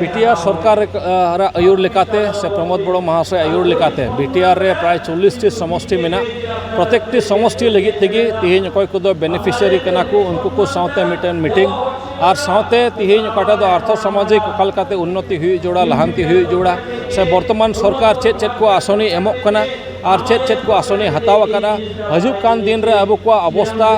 ᱵᱤᱴᱤᱭᱟᱨ ᱥᱚᱨᱠᱟᱨ ᱨᱮ ᱟᱹᱭᱩᱨ ᱞᱮᱠᱟᱛᱮ ᱥᱮ ᱯᱨᱚᱢᱳᱫ ᱵᱚᱲᱚ ᱢᱚᱦᱟᱥᱚᱭ ᱟᱹᱭᱩᱨ ᱞᱮᱠᱟᱛᱮ ᱵᱤᱴᱤᱭᱟᱨ ᱨᱮ ᱯᱨᱟᱭ ᱪᱚᱞᱞᱤᱥᱴᱤ ᱥᱚᱢᱚᱥᱴᱤ ᱢᱮᱱᱟᱜ ᱯᱨᱚᱛᱮᱠᱴᱤ ᱥᱚᱢᱚᱥᱴᱤ ᱞᱟᱹᱜᱤᱫ ᱛᱮᱜᱮ ᱛᱮᱦᱮᱧ ᱚᱠᱚᱭ ᱠᱚᱫᱚ ᱵᱮᱱᱤᱯᱷᱤᱥᱤᱭᱟᱨᱤ ᱠᱟᱱᱟ ᱠᱚ ᱩᱱᱠᱩ ᱠᱚ ᱥᱟᱶᱛᱮ ᱢᱤᱫᱴᱮᱱ ᱢᱤᱴᱤᱝ ᱟᱨ ᱥᱟᱶᱛᱮ ᱛᱮᱦᱮᱧ ᱚᱠᱟᱴᱟᱜ ᱫᱚ ᱟᱨᱛᱷᱚ ᱥᱟᱢᱟᱡᱤᱠ ᱚᱠᱟ ᱞᱮᱠᱟᱛᱮ ᱩᱱᱱᱚᱛᱤ ᱦᱩᱭᱩᱜ ᱡᱟᱹᱨᱩᱲᱟ ᱞᱟᱦᱟᱱᱛᱤ ᱦᱩᱭᱩᱜ ᱡᱟᱹᱨᱩᱲᱟ ᱥᱮ ᱵᱚᱨᱛᱚᱢᱟᱱ ᱥᱚᱨᱠᱟᱨ ᱪᱮᱫ ᱪᱮᱫ ᱠᱚ ᱟᱥᱚᱱᱤ ᱮᱢᱚᱜ ᱠᱟᱱᱟ ᱟᱨ ᱪᱮᱫ ᱪᱮᱫ ᱠᱚ ᱟᱥᱚᱱᱮ ᱦᱟᱛᱟᱣ ᱟᱠᱟᱫᱟ ᱦᱤᱡᱩᱜ ᱠᱟᱱ ᱫᱤᱱ ᱨᱮ ᱟᱵᱚ ᱠᱚᱣᱟᱜ ᱚᱵᱚᱥᱛᱟ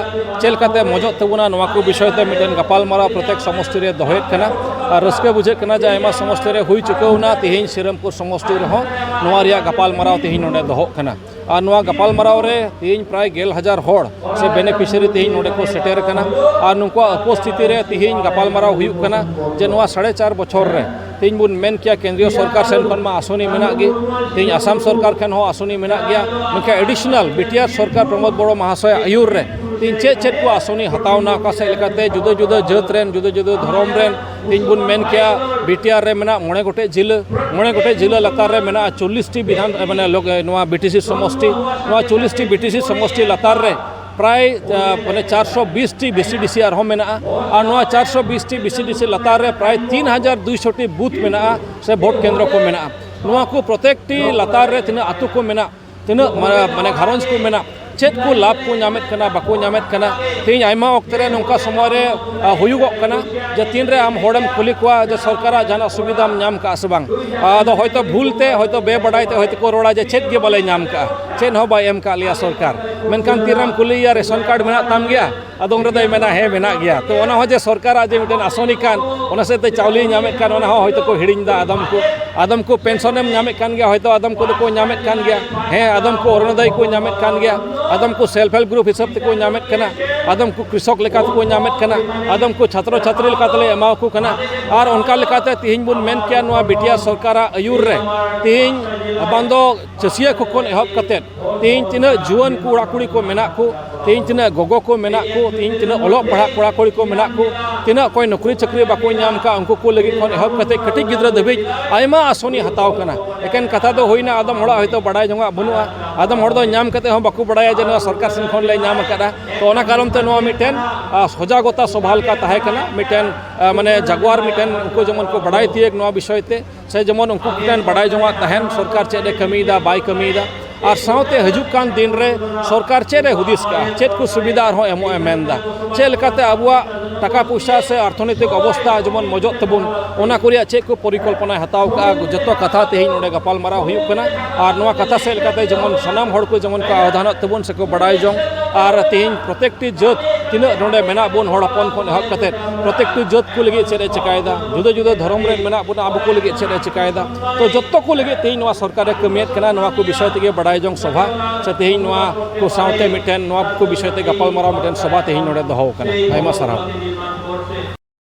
ᱪᱮᱫ ᱞᱮᱠᱟᱛᱮ ᱢᱚᱡᱚᱜ ᱛᱟᱵᱚᱱᱟ ᱱᱚᱣᱟ ᱠᱚ ᱵᱤᱥᱚᱭ ᱛᱮ ᱢᱤᱫᱴᱮᱱ ᱜᱟᱯᱟᱞᱢᱟᱨᱟᱣ ᱯᱨᱚᱛᱮᱠ ᱥᱚᱢᱚᱥᱛᱤ ᱨᱮ ᱫᱚᱦᱚᱭᱮᱫ ᱠᱟᱱᱟ ᱟᱨ ᱨᱟᱹᱥᱠᱟᱹ ᱵᱩᱡᱷᱟᱹᱜ ᱠᱟᱱᱟ ᱡᱮ ᱟᱭᱢᱟ ᱥᱚᱢᱚᱥᱛᱤ ᱨᱮ ᱦᱩᱭ ᱪᱩᱠᱟᱹᱣᱱᱟ ᱛᱮᱦᱮᱧ ᱥᱨᱤᱨᱟᱢᱯᱩᱨ ᱥᱚᱢᱚᱥᱛᱤ ᱨᱮᱦᱚᱸ ᱱᱚᱣᱟ ᱨᱮᱭᱟᱜ ᱜᱟᱯᱟᱞᱢᱟᱨᱟᱣ ᱛᱮᱦᱮᱧ ᱱᱚᱰᱮ ᱫᱚᱦᱚᱜ ᱠᱟᱱᱟ ᱟᱨ ᱱᱚᱣᱟ ᱜᱟᱯᱟᱞᱢᱟᱨᱟᱣ ᱨᱮ ᱛᱮᱦᱮᱧ ᱯᱨᱟᱭ ᱜᱮᱞ ᱦᱟᱡᱟᱨ ᱦᱚᱲ ᱥᱮ ᱵᱮᱱᱤᱯᱷᱤᱥᱤᱭᱟᱨᱤ ᱛᱮᱦᱮᱧ ᱱᱚᱰᱮ ᱠᱚ ᱥᱮᱴᱮᱨ ᱟᱠᱟᱱᱟ ᱟᱨ ᱱᱩᱠᱩᱣᱟᱜ ᱩᱯᱚᱥᱛᱷᱤᱛᱤ ᱨᱮ ᱛᱮᱦᱮᱧ ᱜᱟᱯᱟᱞᱢᱟᱨᱟᱣ ᱦᱩᱭᱩᱜ ᱠᱟᱱᱟ ᱡᱮ ᱱᱚᱣᱟ ᱥᱟᱲᱮ ᱪᱟᱨ ᱵᱚᱪᱷᱚᱨ ᱨᱮ ᱛᱮᱦᱮᱧ ᱵᱚᱱ ᱢᱮᱱ ᱠᱮᱭᱟ ᱠᱮᱱᱫᱨᱤᱭᱚ ᱥᱚᱨᱠᱟᱨ ᱥᱮᱱ ᱠᱷᱚᱱ ᱢᱟ ᱟᱥᱚᱱᱤ ᱢᱮᱱᱟᱜ ᱜᱮ ᱛᱮᱦᱮᱧ ᱟᱥᱟᱢ ᱥᱚᱨᱠᱟᱨ ᱴᱷᱮᱱ ᱦᱚᱸ ᱟᱥᱚᱱᱤ ᱢᱮᱱᱟᱜ ᱜᱮᱭᱟ ᱢᱮᱱᱠᱷᱟᱱ ᱮᱰᱤᱥᱚᱱᱟᱞ ᱵᱤᱴᱤᱟᱨ ᱥᱚᱨᱠᱟᱨ ᱯᱨᱚᱢᱳᱫᱽ ᱵᱚᱲᱚ ᱢᱟᱦᱟᱥᱚᱭ ᱟᱹᱭᱩᱨ ᱨᱮ ᱛᱮᱦᱮᱧ ᱪᱮᱫ ᱪᱮᱫ ᱠᱚ ᱟᱥᱚᱱᱤ ᱦᱟᱛᱟᱣ ᱮᱱᱟ ᱚᱠᱟ ᱥᱮᱫ ᱞᱮᱠᱟᱛᱮ ᱡᱩᱫᱟᱹ ᱡᱩᱫᱟᱹ ᱡᱟᱹᱛ ᱨᱮᱱ ᱡᱩᱫᱟᱹ ᱡᱩᱫᱟᱹ ᱫᱷᱚᱨᱚᱢ ᱨᱮᱱ ᱛᱮᱦᱮᱧ ᱵᱚᱱ ᱢᱮᱱ ᱠᱮᱭᱟ ᱵᱤᱴᱤᱟᱨ ᱨᱮ ᱢᱮᱱᱟᱜ ᱢᱚᱬᱮ ᱜᱚᱴᱮᱡ ᱡᱤᱞᱟᱹ ᱢᱚᱬᱮ ᱜᱚᱴᱮᱡ ᱡᱤᱞᱟᱹ ᱞᱟᱛᱟᱨ ᱨᱮ ᱢᱮᱱᱟᱜᱼᱟ ᱪᱚᱞᱞᱤᱥᱴᱤ ᱵᱤᱫᱷᱟᱱ ᱢᱟᱱᱮ ᱱᱚᱣᱟ ᱵᱤᱴᱤᱥᱤ ᱥᱚᱢᱚᱥᱴᱤ ᱱᱚᱣᱟ ᱪᱚᱞᱞᱤᱥᱴᱤ ᱵᱤᱴᱤᱥᱤ ᱥᱚᱢᱚᱥᱴᱤ ᱞᱟᱛᱟᱨ ᱨᱮ ᱯᱨᱟᱭ ᱢᱟᱱᱮ ᱪᱟᱨᱥᱚ ᱵᱤᱥ ᱴᱤ ᱵᱤᱥᱤ ᱰᱤᱥᱤ ᱟᱨᱦᱚᱸ ᱢᱮᱱᱟᱜᱼᱟ ᱟᱨ ᱱᱚᱣᱟ ᱪᱟᱨᱥᱚ ᱵᱤᱥ ᱴᱤ ᱵᱤᱥᱤ ᱰᱤᱥᱤ ᱞᱟᱛᱟᱨ ᱨᱮ ᱯᱨᱟᱭ ᱛᱤᱱ ᱦᱟᱡᱟᱨ ᱫᱩᱭᱥᱚ ᱴᱤ ᱵᱩᱛᱷ ᱢᱮᱱᱟᱜᱼᱟ ᱥᱮ ᱵᱷᱳᱴ ᱠᱮᱱᱫᱨᱚ ᱠᱚ ᱢᱮᱱᱟᱜᱼᱟ ᱱᱚᱣᱟ ᱠᱚ ᱯᱨᱚᱛᱮᱠ ᱴᱤ ᱞᱟᱛᱟᱨ ᱨᱮ ᱛᱤᱱᱟᱹᱜ ᱟᱛᱳ ᱠᱚ ᱢᱮᱱᱟᱜ ᱛᱤᱱᱟᱹᱜ ᱢᱟᱱᱮ ᱜᱷᱟᱨᱚᱸᱡᱽ ᱠᱚ ᱢᱮᱱᱟᱜ ᱪᱮᱫ ᱠᱚ ᱞᱟᱵᱷ ᱠᱚ ᱧᱟᱢᱮᱫ ᱠᱟᱱᱟ ᱵᱟᱠᱚ ᱧᱟᱢᱮᱫ ᱠᱟᱱᱟ ᱛᱮᱦᱮᱧ ᱟᱭᱢᱟ ᱚᱠᱛᱮ ᱨᱮ ᱱᱚᱝᱠᱟ ᱥᱚᱢᱚᱭ ᱨᱮ ᱦᱩᱭᱩᱜᱚᱜ ᱠᱟᱱᱟ ᱡᱮ ᱛᱤᱱ ᱨᱮ ᱟᱢ ᱦᱚᱲᱮᱢ ᱠᱩᱞᱤ ᱠᱚᱣᱟ ᱡᱮ ᱥᱚᱨᱠᱟᱨᱟᱜ ᱡᱟᱦᱟᱱᱟᱜ ᱥᱩᱵᱤᱫᱷᱟᱢ ᱧᱟᱢ ᱠᱟᱜᱼᱟ ᱥᱮ ᱵᱟᱝ ᱟᱫᱚ ᱦᱚᱭᱛᱳ ᱵᱷᱩᱞ ᱛᱮ ᱦᱚᱭᱛᱳ ᱵᱮᱵᱟᱰᱟᱭ ᱛᱮ ᱦᱚᱭᱛᱳ ᱠᱚ ᱨᱚᱲᱟ ᱡᱮ ᱪᱮᱫ ᱜᱮ ᱵᱟᱞᱮ ᱧᱟᱢ ᱠᱟᱜᱼᱟ ᱪᱮᱫ ᱦᱚᱸ ᱵᱟᱭ ᱮᱢ ᱠᱟᱜ ᱞᱮᱭᱟ ᱥᱚᱨᱠᱟᱨ ᱢᱮᱱᱠᱷᱟᱱ ᱛᱤᱨᱮᱢ ᱠᱩᱞᱤᱭᱮᱭᱟ ᱨᱮᱥᱚᱱ ᱠᱟᱨᱰ ᱢᱮᱱᱟᱜ ᱛᱟᱢ ᱜᱮᱭᱟ ᱟᱫᱚ ᱩᱱ ᱨᱮᱫᱚᱭ ᱢᱮᱱᱟ ᱦᱮᱸ ᱢᱮᱱᱟᱜ ᱜᱮᱭᱟ ᱛᱚ ᱚᱱᱟ ᱦᱚᱸ ᱡᱮ ᱥᱚᱨᱠᱟᱨᱟᱜ ᱡᱮ ᱢᱤᱫᱴᱮᱱ ᱟᱥᱚᱱᱤ ᱠᱟᱱ ᱚᱱᱟ ᱥᱮᱫ ᱛᱮ ᱪᱟᱣᱞᱮᱭ ᱧᱟᱢᱮᱫ ᱠᱟᱱ ᱚᱱᱟ ᱦᱚᱸ ᱦᱚᱭᱛᱳ ᱠᱚ ᱦᱤᱲᱤᱧᱫᱟ ᱟᱫᱚᱢ ᱠᱚ ᱟᱫᱚᱢ ᱠᱚ ᱯᱮᱱᱥᱚᱱ ᱮᱢ ᱧᱟᱢᱮᱫ ᱠᱟᱱ ᱜᱮᱭᱟ ᱦᱚᱭᱛᱳ ᱟᱫᱚᱢ ᱠᱚᱫᱚ ᱠᱚ ᱧᱟᱢᱮᱫ ᱠᱟᱱ ᱜᱮᱭᱟ ᱦᱮᱸ ᱟᱫᱚᱢ ᱠᱚ ᱚᱨᱩᱱᱳᱫᱚᱭ ᱠᱚ ᱧᱟᱢᱮᱫ ᱠᱟᱱ ᱜᱮᱭᱟ ᱟᱫᱚᱢ ᱠᱚ ᱥᱮᱞᱯ ᱦᱮᱞᱯ ᱜᱨᱩᱯ ᱦᱤᱥᱟᱹᱵ ᱛᱮᱠᱚ ᱧᱟᱢᱮᱫ ᱠᱟᱱᱟ ᱟᱫᱚᱢ ᱠᱚ ᱠᱨᱤᱥᱚᱠ ᱞᱮᱠᱟ ᱛᱮᱠᱚ ᱧᱟᱢᱮᱫ ᱠᱟᱱᱟ ᱟᱫᱚᱢ ᱠᱚ ᱪᱷᱟᱛᱨᱚ ᱪᱷᱟᱛᱨᱤ ᱞᱮᱠᱟ ᱛᱮᱞᱮ ᱮᱢᱟ ᱠᱚ ᱠᱟᱱᱟ ᱟᱨ ᱚᱱᱠᱟ ᱞᱮᱠᱟᱛᱮ ᱛᱮᱦᱮᱧ ᱵᱚᱱ ᱢᱮᱱ ᱠᱮᱭᱟ ᱱᱚᱣᱟ ᱵᱤᱴᱤ ᱟᱨ ᱥᱚᱨᱠᱟᱨᱟᱜ ᱟᱹᱭᱩᱨ ᱨᱮ ᱛᱮᱦᱮᱧ ᱵᱟᱝ ᱫᱚ ᱪᱟᱹᱥᱤᱭᱟᱹ ᱠᱚ ᱠᱷᱚᱱ ᱮᱦᱚᱵ ᱠᱟᱛᱮ ᱛᱮᱦᱮᱧ ᱛᱤᱱᱟᱹᱜ ᱡᱩᱣᱟᱹᱱ ᱠᱚᱲᱟ ᱠᱩᱲᱤ ᱠᱚ ᱢᱮᱱᱟᱜ ᱠᱚ ᱛᱮᱦᱮᱧ ᱛᱤᱱᱟᱹᱜ ᱜᱚᱜᱚ ᱠᱚ ᱢᱮᱱᱟᱜ ᱠᱚ ᱛᱮᱦᱮᱧ ᱛᱤᱱᱟᱹᱜ ᱚᱞᱚᱜ ᱯᱟᱲᱦᱟᱜ ᱠᱚᱲᱟ ᱠᱩᱲᱤ ᱠᱚ ᱢᱮᱱᱟᱜ ᱠᱚ ᱛᱤᱱᱟᱹᱜ ᱚᱠᱚᱭ ᱱᱚᱠᱨᱤ ᱪᱟᱹᱠᱨᱤ ᱵᱟᱠᱚ ᱧᱟᱢ ᱠᱟᱜ ᱩᱱᱠᱩ ᱠᱚ ᱞᱟᱹᱜᱤᱫ ᱠᱷᱚᱱ ᱮᱦᱚᱵ ᱠᱟᱛᱮ ᱠᱟᱹᱴᱤᱡ ᱜᱤᱫᱽᱨᱟᱹ ᱫᱷᱟᱹᱵᱤᱡ ᱟᱭᱢᱟ ᱟᱥᱚᱱᱤ ᱦᱟᱛᱟᱣ ᱠᱟᱱᱟ ᱮᱠᱮᱱ ᱠᱟᱛᱷᱟ ᱫᱚ ᱦᱩᱭᱱᱟ ᱟᱫᱚᱢ ᱦᱚᱲᱟᱜ ᱦᱚᱭᱛᱳ ᱵᱟᱰᱟᱭ ᱡᱚᱝ ᱟᱜ ᱵᱟᱹᱱᱩᱜᱼᱟ ᱟᱫᱚᱢ ᱦᱚᱲ ᱫᱚ ᱧᱟᱢ ᱠᱟᱛᱮ ᱦᱚᱸ ᱵᱟᱠᱚ ᱵᱟᱰᱟᱭᱟ ᱡᱮ ᱱᱚᱣᱟ ᱥᱚᱨᱠᱟᱨ ᱥᱮᱱ ᱠᱷᱚᱱ ᱞᱮ ᱧᱟᱢ ᱟᱠᱟᱫᱟ ᱛᱚ ᱚᱱᱟ ᱠᱟᱨᱚᱱ ᱛᱮ ᱱᱚᱣᱟ ᱢᱤᱫᱴᱮᱱ ᱥᱚᱡᱟᱜᱚᱛᱟ ᱥᱚᱵᱷᱟ ᱞᱮᱠᱟ ᱛᱟᱦᱮᱸ ᱠᱟᱱᱟ ᱢᱤᱫᱴᱮᱱ ᱢᱟᱱᱮ ᱡᱟᱜᱽᱣᱟᱨ ᱢᱤᱫᱴᱮᱱ ᱩᱱᱠᱩ ᱡᱮᱢᱚᱱ ᱠᱚ ᱵᱟᱰᱟᱭ ᱛᱤᱭᱟᱹᱜᱽ ᱱᱚᱣᱟ ᱵᱤᱥᱚᱭ ᱛᱮ ᱥᱮ ᱡᱮᱢᱚᱱ ᱩᱱᱠᱩ ᱠᱚᱴᱷᱮᱱ ᱵᱟᱰᱟᱭ ᱡᱚᱝᱟᱜ ᱛᱟᱦᱮᱱ ᱥᱚᱨᱠᱟᱨ ᱪᱮᱫ ᱮ ᱠᱟᱹᱢᱤᱭᱮᱫᱟ ᱵᱟᱭ ᱠᱟᱹᱢᱤᱭᱮᱫᱟ ᱟᱨ ᱥᱟᱶᱛᱮ ᱦᱤᱡᱩᱜ ᱠᱟᱱ ᱫᱤᱱ ᱨᱮ ᱥᱚᱨᱠᱟᱨ ᱪᱮᱫ ᱮ ᱦᱩᱫᱤᱥ ᱠᱟᱜᱼᱟ ᱪᱮᱫ ᱠᱚ ᱥᱩᱵᱤᱫᱷᱟ ᱟᱨᱦᱚᱸ ᱮᱢᱚᱜ ᱮ ᱢᱮᱱᱫᱟ ᱪᱮᱫ ᱞᱮᱠᱟᱛᱮ ᱟᱵᱚᱣᱟᱜ ᱴᱟᱠᱟ ᱯᱚᱭᱥᱟ ᱥᱮ ᱚᱨᱛᱷᱚᱱᱳᱭᱛᱤᱠ ᱚᱵᱚᱥᱛᱷᱟ ᱡᱮᱢᱚᱱ ᱢᱚᱡᱚᱜ ᱛᱟᱵᱚᱱ ᱚᱱᱟ ᱠᱚ ᱨᱮᱭᱟᱜ ᱪᱮᱫ ᱠᱚ ᱯᱚᱨᱤᱠᱚᱞᱯᱚᱱᱟᱭ ᱦᱟᱛᱟᱣ ᱠᱟᱜᱼᱟ ᱡᱚᱛᱚ ᱠᱟᱛᱷᱟ ᱛᱮᱦᱮᱧ ᱱᱚᱰᱮ ᱜᱟᱯᱟᱞᱢᱟᱨᱟᱣ ᱦᱩᱭᱩᱜ ᱠᱟᱱᱟ ᱟᱨ ᱱᱚᱣᱟ ᱠᱟᱛᱷᱟ ᱥᱮᱫ ᱞᱮᱠᱟᱛᱮ ᱡᱮᱢᱚᱱ ᱥᱟᱱᱟᱢ ᱦᱚᱲ ᱠᱚ ᱡᱮᱢᱚᱱ ᱠᱚ ᱟᱣᱫᱷᱟᱱᱚᱜ ᱛᱟᱵᱚᱱ ᱥᱮᱠᱚ ᱵᱟᱰᱟᱭ ᱡᱚᱝ ᱟᱨ ᱛᱮᱦᱮᱧ ᱯᱨᱚᱛᱮᱠᱴᱤ ᱡᱟᱹᱛ ᱛᱤᱱᱟᱹᱜ ᱱᱚᱰᱮ ᱢᱮᱱᱟᱜ ᱵᱚᱱ ᱦᱚᱲ ᱦᱚᱯᱚᱱ ᱠᱷᱚᱱ ᱮᱦᱚᱵ ᱠᱟᱛᱮᱫ ᱯᱨᱚᱛᱮᱠᱴᱤ ᱡᱟᱹᱛ ᱠᱚ ᱞᱟᱹᱜᱤᱫ ᱪᱮᱫ ᱮ ᱪᱤᱠᱟᱹᱭᱮᱫᱟ ᱡᱩᱫᱟᱹ ᱡᱩᱫᱟᱹ ᱫᱷᱚᱨᱚᱢ ᱨᱮ ᱢᱮᱱᱟᱜ ᱵᱚᱱᱟ ᱟᱵᱚ ᱠᱚ ᱞᱟᱹᱜᱤᱫ ᱪᱮᱫ ᱮ ᱪᱤᱠᱟᱹᱭᱮᱫᱟ ᱛᱚ ᱡᱚᱛᱚ ᱠᱚ ᱞᱟᱹᱜᱤᱫ ᱛᱮᱦᱮᱧ ᱱᱚᱣᱟ ᱥᱚᱨᱠᱟᱨ ᱮ ᱠᱟᱹᱢᱤᱭᱮᱫ ᱠᱟᱱᱟ ᱱᱚᱣᱟ ᱠᱚ ᱵᱤᱥᱚᱭ ᱛᱮᱜᱮ ᱵᱟᱰᱟᱭ ᱡᱚᱝ ᱥᱚᱵᱷᱟ ᱥᱮ ᱛᱮᱦᱮᱧ ᱱᱚᱣᱟ ᱠᱚ ᱥᱟᱶᱛᱮ ᱢᱤᱫᱴᱮᱱ ᱱᱚᱣᱟ ᱠᱚ ᱵᱤᱥᱚᱭ ᱛᱮ ᱜᱟᱯᱟᱞᱢᱟᱨᱟᱣ ᱢᱤᱫᱴᱮᱱ ᱥᱚᱵᱷᱟ ᱛᱮᱦᱮᱧ ᱱᱚᱰᱮ ᱫᱚᱦᱚ ᱟᱠᱟᱱᱟ ᱟᱭᱢᱟ ᱥᱟᱨᱦᱟᱣ